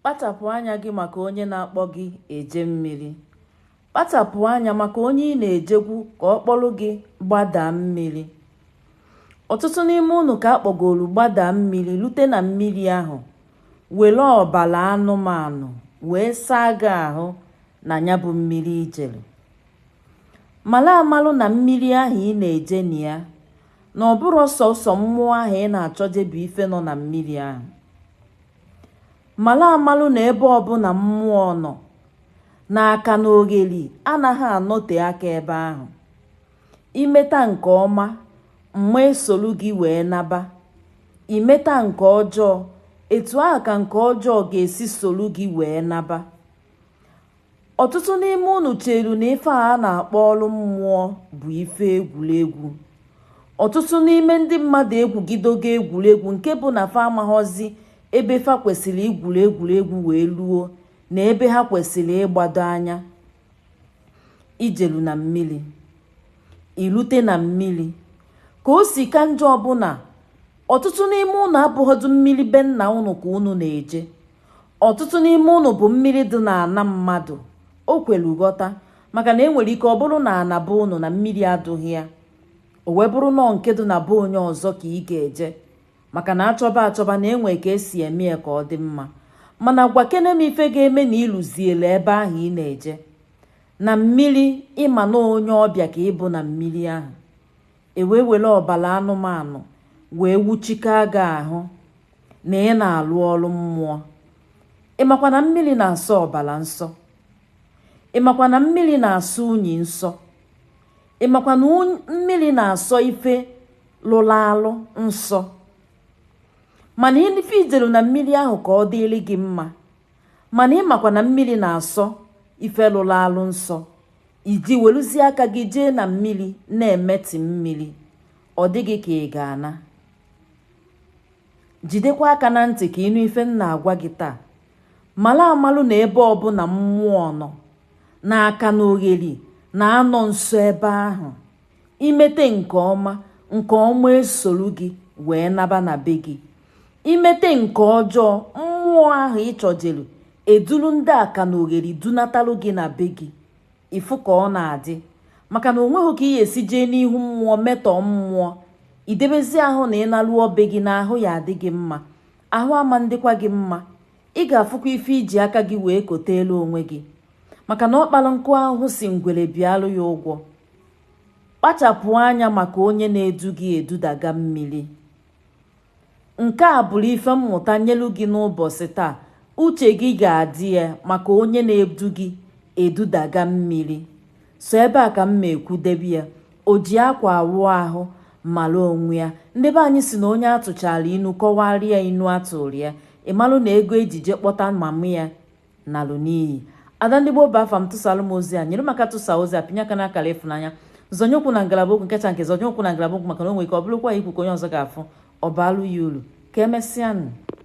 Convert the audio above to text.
Kpachapụ anya gị maka onye na-akpọ gị eje mmiri. Kpachapụ anya maka onye ị na-ejekwu ka ọ kpọrọ gị gbadaa mmiri. Ọtụtụ n'ime unu ka a kpọgoro gbadaa mmiri lute na mmiri ahụ were ọbara anụmanụ wee saa gị ahụ na ya bụ mmiri ijere. Mara amalụ na mmiri ahụ ị na-eje na ya na ọ bụrọ sọsọ mmụọ ahụ ị na-achọje bụ ife nọ na mmiri ahụ. Mara amalụ na ebe ọbụna mmụọ nọ, na aka na ogheri anaghị anọte aka ebe ahụ. Imeta nke ọma, mma esolu gị wee naba. Imeta nke ọjọọ, etu ahụ ka nke ọjọọ ga-esi solu gị wee naba. Ọtụtụ n'ime unu cheru na ife a na-akpọ ọrụ mmụọ bụ ife egwuregwu. Ọtụtụ n'ime ndị mmadụ egwugidogo egwuregwu nke bụ na fa amaghọzi ebe fa kwesịrị igwuru egwuregwu wee luo na ebe ha kwesịrị ịgbado anya. Ijeru na mmiri, ilute na mmiri. Ka o si ka njọ bụ na ọtụtụ n'ime unu abụghọdụ mmiri be nna unu ka unu na-eje. ọtụtụ n'ime unu bụ mmiri dị na ana mmadụ o kwelu ghọta maka na enwere ike ọ bụrụ na ana be unu na mmiri adụghị ya o wee bụrụ nọọ nke dị na be onye ọzọ ka ị ga-eje maka na achọba achọba na enwe ka esi eme ya ka ọ dị mma mana gwakene m ife ga-eme na iluziele ebe ahụ ị na-eje na mmiri ịma na onye ọbịa ka ịbụ na mmiri ahụ e wee were ọbara anụmanụ wee wuchika gị ahụ na ị na-alụ ọrụ mmụọ ịmakwa na mmiri na-asọ ọbara nsọ ịmakwa na mmiri na-asọ unyi nsọ ịmakwa na mmiri na-asọ ife lụrụ alụ nsọ mana ife ijelu na mmiri ahụ ka ọ dịrị gị mma mana ịmakwa na mmiri na-asọ ife lụrụ alụ nsọ iji weluzie aka gị jee na mmiri na-emetọ mmiri ọ dị gị ka ị ga-ana jidekwa aka na ntị ka ịnụ ife m na-agwa gị taa mara amalụ na ebe ọbụna mmụọ nọ na aka na ogheri na-anọ nso ebe ahụ imete nke ọma nke ọma esolu gị wee naba na be gị imete nke ọjọọ mmụọ ahụ ịchọjelu eduru ndị aka na ogheri dunatalụ gị na be gị ịfụ ka ọ na-adị maka na o nweghị ka ị ga-esi jee n'ihu mmụọ metọọ mmụọ idebezi ahụ na ị naluo be gị na ahụ ya adị gị mma ahụ ama ndịkwa gị mma ị ga-afụkwa ife iji aka gị wee kotelu onwe gị maka na ọ kpara nkụ ahụhụ si ngwere bịalụ ya ụgwọ kpachapụ anya maka onye na-edu gị edudaga mmiri nke a bụrụ ife mmụta nyelu gị n'ụbọchị taa uche gị ga-adị ya maka onye na-edu gị edudaga mmiri so ebe a ka m ma ekwudebe ya o ji akwa awụ ahụ mara onwe ya ndị be anyị si na onye a tụchara inu kọwarịa inu a tụrụ ya ị malụ na ego e ji je kpọta mama ya nalụ n'iyi ada ndị Igbo bụ afa m tụsalụ m ozi a nyere m aka tụsa ozi a pinye aka n'akara ịfụnanya zọnye ụkwụ na ngalaba okwu nkecha nke zọnye ụkwụ na ngalaba okwu maka na o nwere ike ọ bụrụkwa ihe i kwu ka onye ọzọ ga-afụ ọ baalụ ya ulu ka emesịanụ